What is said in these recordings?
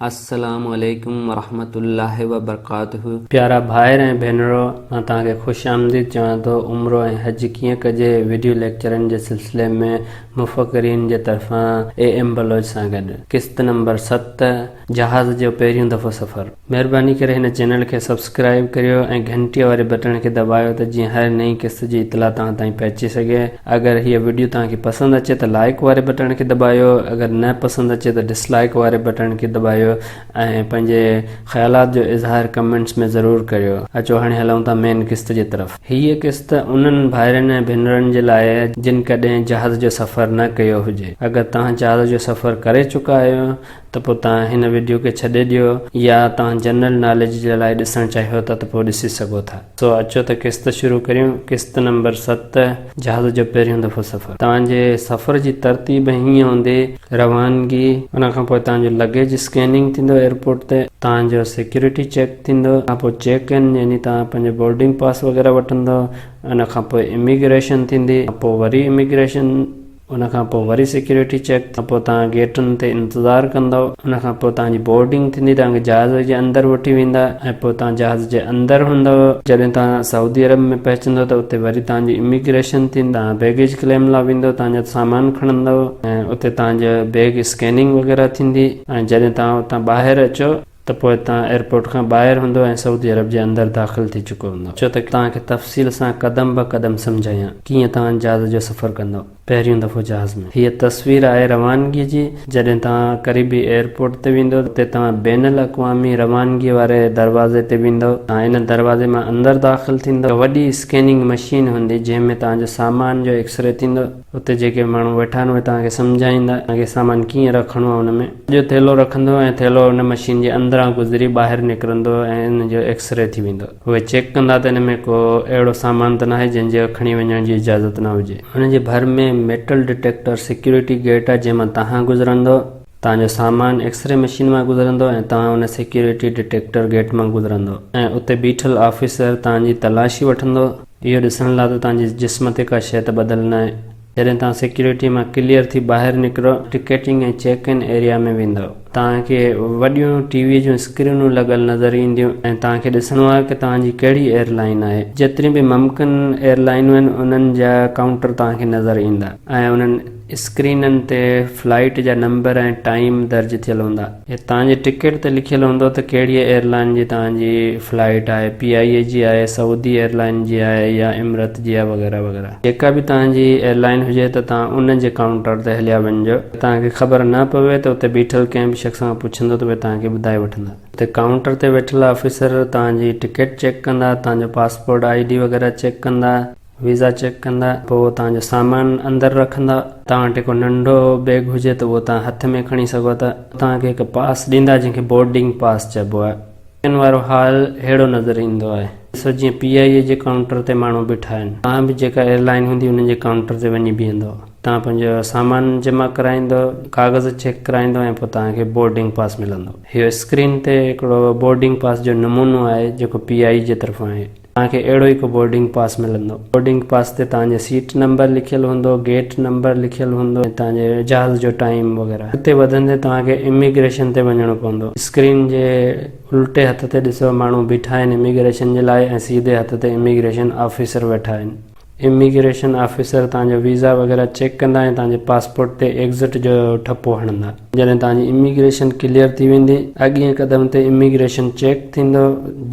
السلام عليڪم ورحمة الله وبرڪاته. پيارا ڀائر ۽ ڀينرو مان توهان کي خوش آمديد چوان ٿو عمرو ۽ حج ڪيئن ڪجي ويڊيو ليڪچرن جي سلسلي ۾ مفڪرين جي طرفان اي ايم بلوچ سان گڏ قسط نمبر ست جهاز جو پهريون دفعو سفر مهرباني ڪري هن چينل کي سبسڪرائيب ڪريو ۽ گهنٽي واري بٽڻ کي دٻايو ته جيئن هر نئين قسط جي اطلاع توهان تائين پهچي سگهي. اگر هيء وڊيو توهان کي پسند اچي ته لائيڪ واري بٽڻ کي دٻايو اگر نه پسند اچي ته ڊس لائيڪ واري بٽڻ کي دٻايو ۽ پنهنجي خيالات جو اظهار ڪمينٽس ۾ ضرور ڪريو اچو هاڻي هلون ٿا مين قسط جي طرف. هيء قسط انهن ڀائرن ۽ ڀينرن جي لاء آهي جن ڪڏهن جهاز جو سفر نه ڪيو هجي. اگر توهان جهاز جو سفر ڪري چڪا آهيو ته پوء توهان هن وڊيو کي ڇڏي ڏيو يا توهان جنرل ناليج جي لاء ڏسڻ چاهيو ٿا ته پوء ڏسي سگهو ٿا. سو اچو ته قسط شروع ڪريون. قسط نمبر ست، جهاز جو پهريون دفعو سفر. توهان جي سفر جي ترتيب هيئن هوندي، روانگي. ان کان پوء توهان جو لگيج اسڪيننگ ٿيندو ايئرپورٽ تي. توهان جو سيڪيورٽي چيڪ ٿيندو. ان کان پوء چيڪ ان يعني توهان پنهنجو بورڊنگ پاس وغيره وٺندو. ان کان پوء اميگريشن ٿيندي. ان کان پوء وري اميگريشن. ان کان پوء وري سيڪيورٽي چيڪ کان پوء توهان گيٽن تي انتظار ڪندؤ. ان کان پوء توهان جي بورڊنگ ٿيندي، توهان کي جهاز جي اندر وٺي ويندا ۽ پوء توهان جهاز جي اندر هوندؤ. جڏهن توهان سعودي عرب ۾ پهچندؤ ته اتي وري توهان جي اميگريشن ٿيندي، توهان بيگيج ڪليم لا ويندؤ، توهان جا سامان کڻندؤ ۽ اتي توهان جا بيگ اسڪيننگ وغيره ٿيندي ۽ جڏهن توهان اتان ٻاهر اچو، ته پوء تان ايئرپورٽ کان ٻاهر هوندو ۽ سعودي عرب جي اندر داخل ٿي چڪو هوندو ڇو ته توهان کي تفصيل سان قدم به قدم سمجهايان ڪيئن توهان جهاز جو سفر ڪندو پهريون دفعو جهاز ۾ هيء تصوير آهي روانگي جي جڏهن توهان قريبي ايئرپورٽ تي ويندو اتي توهان بين الاقوامي روانگي واري دروازي تي ويندو توهان ان دروازي مان اندر داخل ٿيندو هڪ وڏي اسڪيننگ مشين هوندي جنهن ۾ توهان جو سامان جو ايڪسري ٿيندو. اتي جيڪي ماڻهو ويٺا آهن اهي توهان کي سمجهائيندا ته سامان ڪيئن رکڻو آهي ان ۾. جو ٿيلهو رکندو ۽ ٿيلهو ان مشين جي اندران گذري ٻاهر نڪرندو ۽ ان جو ايڪس ري ٿي ويندو. اهي چيڪ ڪندا ته ان ۾ ڪو اهڙو سامان ته ناهي جنهن جي کڻي وڃڻ جي اجازت نه هجي. ان جي ڀر ۾ ميٽل ڊٽيڪٽر سيڪيورٽي گيٽ آهي جنهن مان توهان گذرندو. توهان جو سامان ايڪس ري مشين مان گذرندو ۽ توهان ان سيڪيورٽي ڊٽيڪٽر گيٽ مان گذرندو ۽ اتي بيٺل آفيسر توهان جي تلاشي وٺندو اهو ڏسڻ لاء ته توهان جي جسم تي ڪا شيء ته ٻڌل ناهي. جڏهن توهان سيڪيورٽي مان ڪليئر ٿي ٻاهر نڪرو ٽڪيٽنگ ۽ چيڪ ان ايريا ۾ ويندو توهان کي وڏيون ٽي وي جون اسڪرينون لڳل نظر اينديون ۽ توهان کي ڏسڻو آهي ته توهان جي ڪهڙي ايئر لائين آهي جيتريون به ممڪن ايئر لائينون آهن انهن جا ڪائونٽر توهان کي نظر ايندا ۽ انهن اسڪرينن تي فلائيٽ جا نمبر ۽ ٽائيم درج ٿيل هوندا. توهان جي ٽڪيٽ تي لکيل هوندو ته ڪهڙيء ايئرلائين جي توهان جي فلائيٽ آهي، پي آء اي جي آهي، سعودي ايئرلائين جي آهي يا امرت جي آهي وغيره وغيره. جيڪا به توهان جي ايئرلائين هجي ته توهان ان جي ڪائونٽر تي هليا وڃجو. جي توهان کي خبر نه پوي ته اتي بيٺل ڪنهن به شخص کان پڇندو ته اهي توهان کي ٻڌائي وٺندا. اتي ڪائونٽر تي ويٺل آفيسر توهان جي ٽڪيٽ چيڪ ڪندا، توهان جو پاسپورٽ، آء ڊي وغيره چيڪ ڪندا. ويزا چيڪ ڪندا پوء توهان جو سامان اندر رکندا. توهان وٽ ڪو ننڍو بيگ هجي ته اهو توهان هٿ ۾ کڻي سگهو ٿا. توهان کي هڪ پاس ڏيندا جنهن کي بورڊنگ پاس چئبو آهي. ان وارو حال ههڙو نظر ايندو آهي. ڏسو جيئن پي آء اي جي ڪائونٽر تي ماڻهو بيٺا آهن. توهان به جيڪا ايئرلائين هوندي انهن جي ڪائونٽر تي وڃي بيهندو. توهان پنهنجو سامان جمع ڪرائيندو، ڪاغذ چيڪ ڪرائيندو ۽ پوء توهان کي بورڊنگ پاس ملندو. اهو اسڪرين تي هڪڙو بورڊنگ پاس جو نمونو آهي جيڪو پي آء اي جي طرفان آهي. توهان کي اهڙو هڪ بورڊنگ پاس ملندو. بورڊنگ پاس تي توهان جي سيٽ نمبر لکيل هوندو، گيٽ نمبر لکيل هوندو ۽ توهان جي جهاز جو ٽائيم وغيره. اڳتي وڌندي توهان کي اميگريشن تي وڃڻو پوندو. اسڪرين جي الٽي هٿ تي ڏسو ماڻهو بيٺا آهن اميگريشن جي لاء ۽ سيڌي هٿ تي اميگريشن آفيسر ويٺا آهن. اميگريشن آفيسر توهان جو ويزا وغيره چيڪ ڪندا ۽ توهان جي پاسپورٽ تي ايگزٽ جو ٺپو هڻندا. جڏهن توهان جي اميگريشن ڪليئر ٿي ويندي، اڳئين قدم تي اميگريشن چيڪ ٿيندو،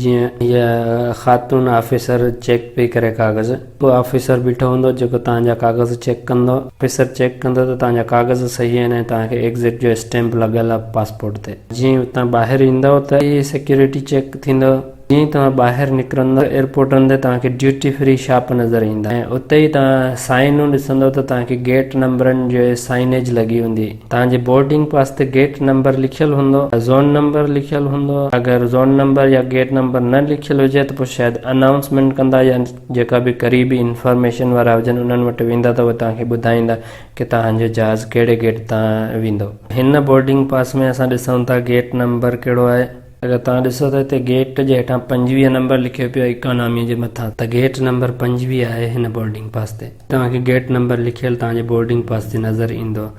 جيئن هيء خاتون آفيسر چيڪ پئي ڪري ڪاغذ. ٻيو آفيسر بيٺو هوندو، جيڪو توهان جا ڪاغذ چيڪ ڪندو. آفيسر چيڪ ڪندو ته توهان جا ڪاغذ صحيح آهن ۽ توهان کي ايگزٽ جو اسٽيمپ لڳل آهي پاسپورٽ تي. جيئن ئي اتان ٻاهر ايندؤ ته هيء سيڪيورٽي چيڪ ٿيندو. جيئن ئي توهان ٻاهر نڪرندو ايئرپورٽن تي توهان کي ڊيوٽي فري شاپ نظر ايندا ۽ اتي ئي توهان سائنون ڏسندو ته توهان کي گيٽ نمبرن جي سائنيج لڳي هوندي توهان جي بورڊنگ پاس تي گيٽ نمبر لکيل هوندو يا زون نمبر لکيل هوندو اگر زون نمبر يا گيٽ نمبر نه لکيل هجي ته پوء شايد انائونسمينٽ ڪندا يا جيڪا به قريبي انفارميشن وارا هجن انهن وٽ ويندا ته اهي توهان کي ٻڌائيندا ڪي توهان جو جهاز ڪهڙي گيٽ تان ويندو هن بورڊنگ پاس ۾ اسان ڏسون ٿا گيٽ نمبر ڪهڙو آهي. اگر توهان ڏسو ته هتي گيٽ جي هيٺان پنجويهه نمبر لکيو پيو آهي اڪانامي جي مٿان ته گيٽ نمبر پنجويهه آهي هن بورڊنگ پاس تي توهان کي گيٽ نمبر لکيل توهان جي بورڊنگ پاس تي نظر ايندو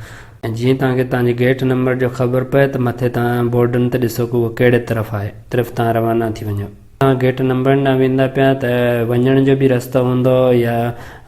۽ جيئن توهان کي توهان جي گيٽ نمبر جو خبر پئي ته مٿي توهان بورڊن تي ڏسو ڪو اهو ڪهڙي طرف آهي طرف توهان روانا ٿي وڃو توهان گيٽ نمبرن ڏانهن ويندا پيا ته وڃڻ جو به رستو هوندو يا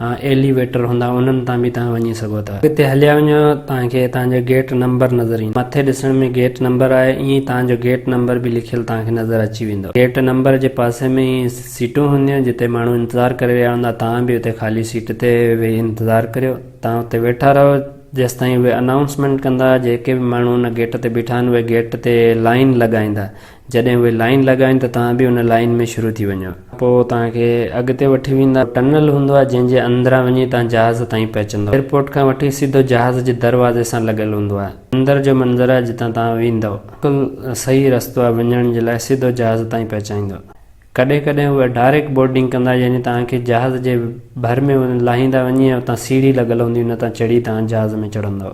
ايليويٽر هوندا انهن تان به توهان وڃي سگهو ٿا اڳتي هليا وڃو توهان کي توهان جو گيٽ نمبر نظر ايندو مٿي ڏسڻ ۾ گيٽ نمبر آهي ائين ئي توهان جو گيٽ نمبر به لکيل توهان کي نظر اچي ويندو گيٽ نمبر جي پاسي ۾ ئي سيٽون هونديون جتي ماڻهو انتظار ڪري رهيا هوندا توهان به اتي خالي سيٽ تي ويهي انتظار ڪريو توهان اتي ويٺا رهو جيستائين اهي انائونسمينٽ ڪندا جيڪي به ماڻهو ان گيٽ تي بيٺا آهن اهي گيٽ تي لائين لڳائيندا جڏهن اهي لائين لڳائين ته توهان به ان لائين ۾ شروع ٿي وڃو. پوء توهان کي اڳتي وٺي ويندا. ٽنل هوندو آهي جنهن جي اندران وڃي توهان جهاز تائين پهچندو. ايئرپورٽ کان وٺي سڌو جهاز جي دروازي سان لڳل هوندو آهي. اندر جو منظر آهي جتان توهان ويندؤ. بلڪل صحيح رستو آهي وڃڻ جي لاء سڌو جهاز تائين پهچائيندو. ڪڏهن ڪڏهن اهي ڊائريڪٽ بورڊنگ ڪندا يعني توهان کي جهاز جي ڀر ۾ لاهيندا وڃي ۽ اتان سيڙهي لڳل هوندي ان تان چڙهي توهان جهاز ۾ چڙهندؤ.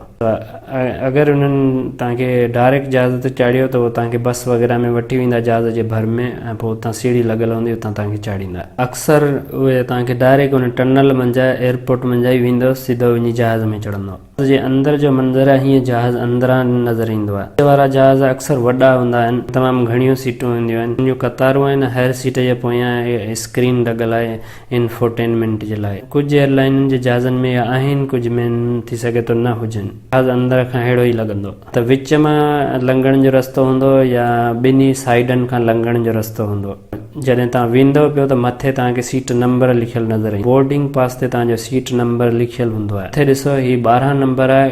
اگر انهن توهان کي ڊائريڪٽ جهاز تي چاڙهيو ته اهي توهان کي بس وغيره ۾ وٺي ويندا جهاز جي ڀر ۾ ۽ پوء اتان سيڙهي لڳل هوندي اتان توهان کي چاڙهيندا. اڪثر اهي توهان کي ڊائريڪٽ ان ٽنل منجهان ايئرپورٽ منجهان ئي ويندؤ سڌو وڃي جهاز ۾ چڙهندؤ. جهاز جي اندر جو منظر هيء جهاز اندران نظر ايندو آهي. اڳي وارا جهاز اڪثر وڏا هوندا آهن ۽ تمام گهڻيون سيٽون هونديون آهن. انهن جون قطارون آهن. هر سيٽ جي پويان اسڪرين لڳل آهي انفوٽينمينٽ جي لاء. ڪجهه ايئرلائينن جي جهازن ۾ اهي آهن ڪجهه ۾ ٿي سگهي ٿو نه هجن. جهاز اندر کان ههڙو ئي لڳندو. ته وچ مان لنگهڻ جو رستو هوندو يا ٻنهي سائيڊن کان لنگهڻ جو رستو هوندو. جڏهن توهان ويندو پيو ته مٿي توهان کي سيٽ نمبر لکيل نظر ايندو. بورڊنگ پاس تي توهان جو سيٽ نمبر لکيل هوندو آهي. مٿي ڏسو هي ٻارهن نمبر آهي.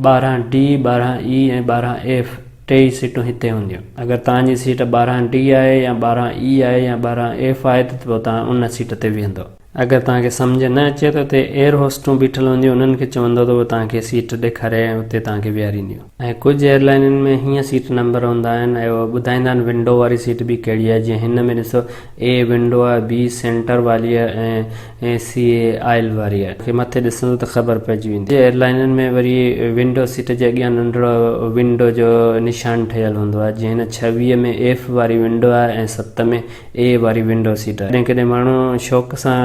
ٻارهن ڊي، ٻارهن اي ۽ ٻارهن ايف ٽيئي سيٽون هتي هونديون. اگر توهان جي سيٽ ٻارهن ڊي آهي يا ٻارهن اي آهي يا ٻارهن ايف آهي ته پوء توهان ان سيٽ تي ويهندو. اگر توهان کي سمجهه نه اچي ته اتي ايئر هوسٽون بيٺل هونديون انهن کي چوندو ته هو توهان کي سيٽ ڏيکاري ۽ اتي توهان کي ويهارينديون ۽ ڪجهه ايئر لائينن ۾ هيئن سيٽ نمبر هوندا آهن ۽ اهي ٻڌائيندا آهن ونڊو واري سيٽ به ڪهڙي آهي جيئن هن ۾ ڏسو اي ونڊو آهي بي سينٽر والي آهي ۽ سي اي آئل واري آهي کي مٿي ڏسندو ته خبر پئجي ويندي ڪجهه ايئر لائينن ۾ وري ونڊو سيٽ جي اڳيان ننڍڙو ونڊو جو نشان ٺهيل هوندو آهي جيئن هن ڇويهه ۾ ايف واري ونڊو آهي ۽ ست ۾ اي واري ونڊو سيٽ آهي. ڪڏهن ڪڏهن ماڻهو شوق سان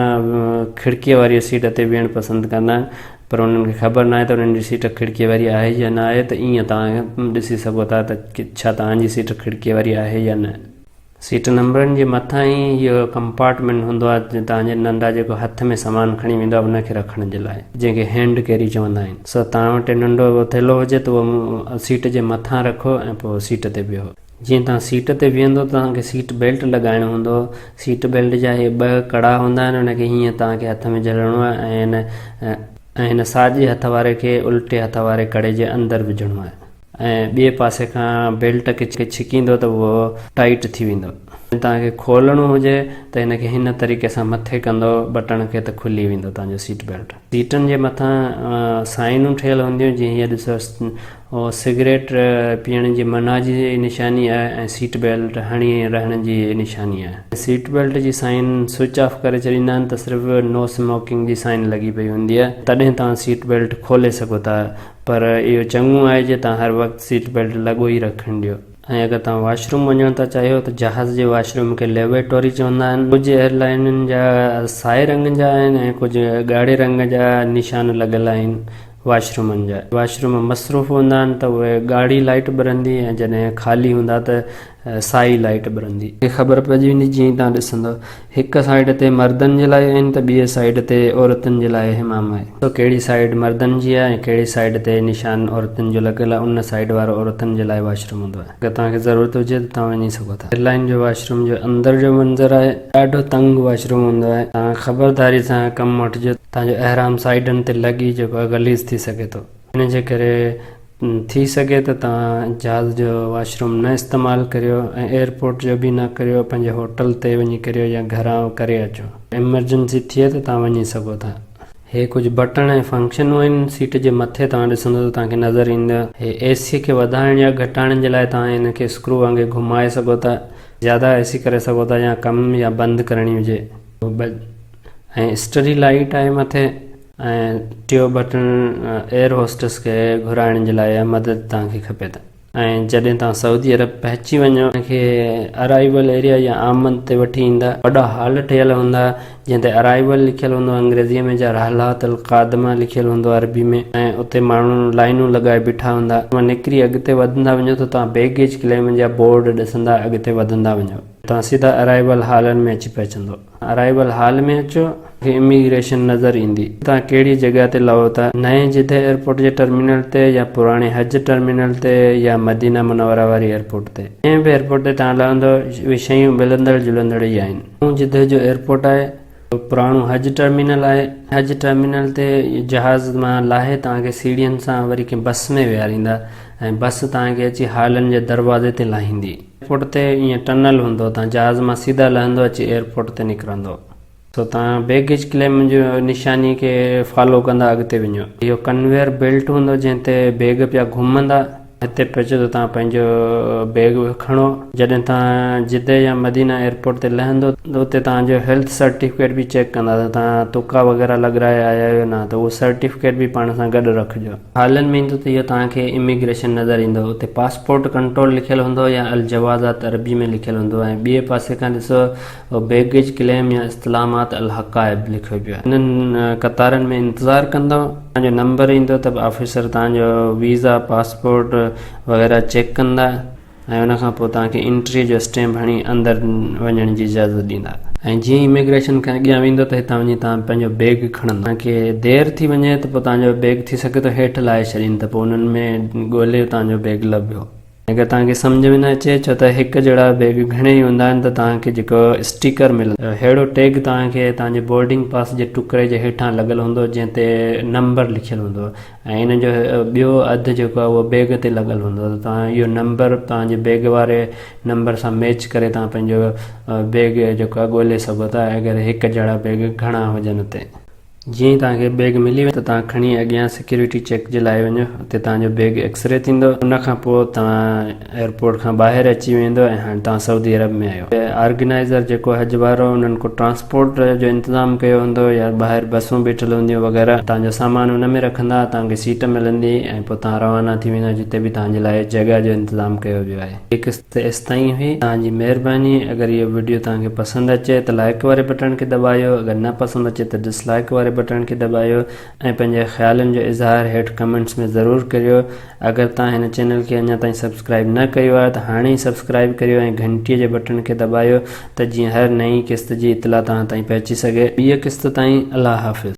کڙڪيء واريء سيٽ تي ويهڻ پسند ڪندا آهن، پر انهن کي خبر ناهي ته انهن جي سيٽ کڙڪيء واري آهي يا نه آهي، ته ايئن توهان ڏسي سگهو ٿا ته ڇا توهان جي سيٽ کڙڪيء واري آهي يا نه. سيٽ نمبرن جي مٿان ئي اهو ڪمپارٽمينٽ هوندو آهي، جتي توهان جي ننڍڙا جيڪو هٿ ۾ سامان کڻي ويندو آهي، ان کي رکڻ جي لاء، جنهن کي هينڊ ڪيري چوندا آهن، سو توهان وٽ ننڍڙو ٿيلهو هجي ته اهو سيٽ جي مٿان رکو ۽ پوء سيٽ تي ويهو. جيئن توهان سيٽ تي ويهندو ته توهان کي سيٽ بيلٽ لڳائڻ هوندو سيٽ بيلٽ جا هي ٻه ڪڙا هوندا آهن ان کي هيئن توهان کي هٿ ۾ جهلڻو آهي ۽ هن ۽ هن ساڄي هٿ واري کي الٽي هٿ واري ڪڙي جي اندر وجهڻو آهي ۽ ٻئي پاسي کان بيلٽ کي ڇڪيندو ته اهو ٽائيٽ ٿي ويندو جي توهان کي کولڻو هجي ته هن کي هن طريقي سان مٿي ڪندو بٽڻ کي ته کلي ويندو توهان جو سيٽ بيلٽ. سيٽن جي مٿان سائنون ٺهيل هونديون جي هينئر ڏسو او سگريٽ پيئڻ جي منع جي نشاني آهي ۽ سيٽ بيلٽ هڻي رهڻ جي نشاني آهي. سيٽ بيلٽ جي سائن سوئچ آف ڪري ڇڏيندا آهن ته صرف نو اسموڪنگ جي سائن لڳي پئي هوندي آهي تڏهن توهان سيٽ بيلٽ کولي سگهو ٿا پر اهو چڱو آهي جي توهان هر وقت سيٽ بيلٽ لڳو ئي رکڻ ڏيو. ۽ اگر توهان واش روم وڃڻ ٿا چاهيو ته جهاز جي واش روم کي ليبارٽوري چوندا آهن. ڪجهه ايئر لائينن جا سائي رنگ جا آهن ۽ ڪجهه ڳاڙهي رنگ جا نشان لڳل آهن واش رومن جا واش روم مصروف هوندا آهن ته اهي ڳاڙهي لائيٽ ٻرندي ۽ جڏهن خالي هوندا ته سائي لائيٽ ٻرندي. کي خبر پئجي ويندي جيئن ئي توهان ڏسندو هڪ سائيڊ تي مردن جي لاء آهن ته ٻئي سائيڊ تي عورتن جي لاء حمام آهي. ڏسو ڪهڙي سائيڊ مردن جي آهي ۽ ڪهڙي سائيڊ تي نشان عورتن جو لڳل آهي ان سائيڊ وارو عورتن جي لاء واش روم هوندو آهي. اگر توهان کي ضرورت هجي ته توهان وڃي سگهو ٿا. ايئر لائين جي واش روم جو اندر جو منظر آهي. ڏاڍو تنگ واش روم هوندو آهي. توهان خبرداري سان ڪم وٺجو. توهان جو احرام سائيڊن تي لڳي جيڪو غليظ ٿي سگهي ٿو. ان جي ڪري ٿي سگهي ته توهان جهاز جو واش روم نه استعمال ڪريو ۽ ايئرپورٽ جو به نه ڪريو پنهنجي هوٽل تي وڃي ڪريو يا گهران ڪري اچو ايمرجنسي ٿئي ته توهان وڃي سگهو ٿا. هي ڪجهه بٽڻ ۽ فنڪشنون آهن سيٽ جي مٿي توهان ڏسندو ته توهان کي نظر ايندا هي اي سي کي وڌائڻ يا گهٽائڻ جي لاء توهان هن کي اسڪرو وانگي گهمائي سگهو ٿا زياده اي سي ڪري سگهو ٿا يا ڪم يا بند ڪرڻي هجي ۽ اسٽري لائيٽ آهي مٿي. ۽ ٽيون بٽڻ ايئر هوسٽس کي گهرائڻ جي لاء مدد توهان کي کپي ته ۽ جڏهن توهان سعودي عرب پهچي وڃو توهان کي ارائيول ايريا يا آمد تي وٺي ايندا وڏا هال ٺهيل هوندا جنهن تي ارائيول لکيل هوندو انگريزي ۾ جا رحلات القادمه لکيل هوندو عربي ۾ ۽ اتي ماڻهو لائينون لڳائي بيٺا هوندا توهان نڪري اڳتي وڌندا وڃو ته توهان بيگيج ڪليم جا بورڊ ڏسندا اڳتي وڌندا وڃو ته توهان سيڌا ارائيول هالن ۾ اچي پهچندو. ارائيول هال ۾ اچو ته اميگريشن نظر ايندي. توهان ڪهڙي جڳهه تي لهو ٿا، نئين جده ايئرپورٽ جي ٽرمينل تي يا پراڻي حج ٽرمينل تي يا مدينه منوره واري ايئرپورٽ تي. جنهن به ايئرپورٽ تي توهان لهندو اهي شيون ملندڙ جلندڙ ئي آهن. نئون جده جو ايئرپورٽ آهي، پراڻو حج ٽرمينل آهي. حج ٽرمينل تي جهاز مان لاهي توهان کي سيڙهين سان وري ڪنهن بس ۾ ويهاريندا ۽ بس توهان کي اچي هالن جي دروازي تي لاهيندي. ايئرپورٽ تي ايئن ٽنل هوندو تان جهاز مان سيدا لهندو اچي ايئرپورٽ تي نڪرندو سو تان بيگيج ڪليم جي نشاني کي فالو ڪندا اڳتي وڃو اهو ڪنويئر بيلٽ هوندو جنهن تي بيگ پيا گهمندا هتي پهچو ته تان پنهنجو بيگ به کڻو جڏهن تان جده يا مدينه ايئرپورٽ تي لهندو ته اتي تان جو هيلٿ سرٽيفڪيٽ به چيڪ ڪندا ته تان تڪا وغيره لڳرائي آيا آهيو نه ته اهو سرٽيفڪيٽ به پاڻ سان گڏ رکجو. هالن ۾ ايندو ته اهو توهان کي اميگريشن نظر ايندو اتي پاسپورٽ ڪنٽرول لکيل هوندو يا الجوازات عربي ۾ لکيل هوندو ۽ ٻئي پاسي کان ڏسو او بيگيج ڪليم يا استعلامات الحقائب لکيو پيو آهي. انهن قطارن ۾ انتظار ڪندو توهان جو نمبر ايندو ته آفيسر توهان جو ويزا، پاسپورٽ وغيره چيڪ ڪندا. ۽ ان کان پوء توهان کي انٽري جو اسٽيمپ هڻي اندر وڃڻ جي اجازت ڏيندا ۽ جيئن ئي اميگريشن کان اڳيان ويندو ته هتان وڃي توهان پنهنجو بيگ کڻندا توهان کي دير ٿي وڃي ته پوء توهان جو بيگ ٿي سگهي ٿو هيٺ لاهي ڇڏين ته پوء انهن ۾ ڳولي توهان جو بيگ لڀيو ۽ اگر توهان کي سمجهه ۾ نه اچي ڇو ته هڪ جهڙا بيگ گهڻي ئي هوندا آهن ته توهان کي جيڪو اسٽيڪر ملندو ههڙو ٽيگ توهان کي توهان جي بورڊنگ پاس جي ٽڪري جي هيٺان لڳل هوندو جنهن تي نمبر لکيل هوندو ۽ ان جو ٻيو اڌ جيڪو آهي اهو بيگ تي لڳل هوندو آهي ته توهان اهو نمبر توهان جي بيگ واري نمبر سان ميچ ڪري توهان پنهنجو بيگ جيڪو آهي ڳولي سگهو ٿا اگر هڪ جهڙا بيگ گهڻا هجن اتي. جيئن ئي توهان کي بيگ ملي ويو ته توهان کڻي اڳيان سيڪيورٽي چيڪ جي لاء وڃو اتي توهان جو بيگ ايڪسري ٿيندو ان کان پوء توهان ايئرپورٽ کان ٻاهر اچي ويندو ۽ هاڻ توهان سعودي عرب ۾ آهيو. آرگنائيزر جيڪو حج وارو انهن ڪو ٽرانسپورٽ جو انتظام ڪيو هوندو يا ٻاهر بسون بيٺل هونديون وغيره توهان جو سامان ان ۾ رکندا توهان کي سيٽ ملندي ۽ پوء توهان روانا ٿي ويندا جتي به توهان جي لاء جڳهه جو انتظام ڪيو ويو آهي. هي قسط ايستائين هئي توهان جي مهرباني اگر اهو وڊيو توهان کي پسند اچي ته لائڪ واري بٽڻ کي دٻايو اگر نه پسند اچي ته ڊس لائڪ واري بٽڻ کي دٻايو. ۽ پنهنجي خيالن جو اظهار هيٺ ڪمينٽس ۾ ضرور ڪريو اگر توهان هن چينل کي اڃا تائين سبسڪرائيب نه ڪيو آهي ته هاڻي ئي سبسڪرائيب ڪريو ۽ گهنٽي جي بٽڻ کي دٻايو ته جيئن هر نئين قسط جي اطلاع توهان تائين پهچي سگهي ٻيء قسط تائين الله حافظ.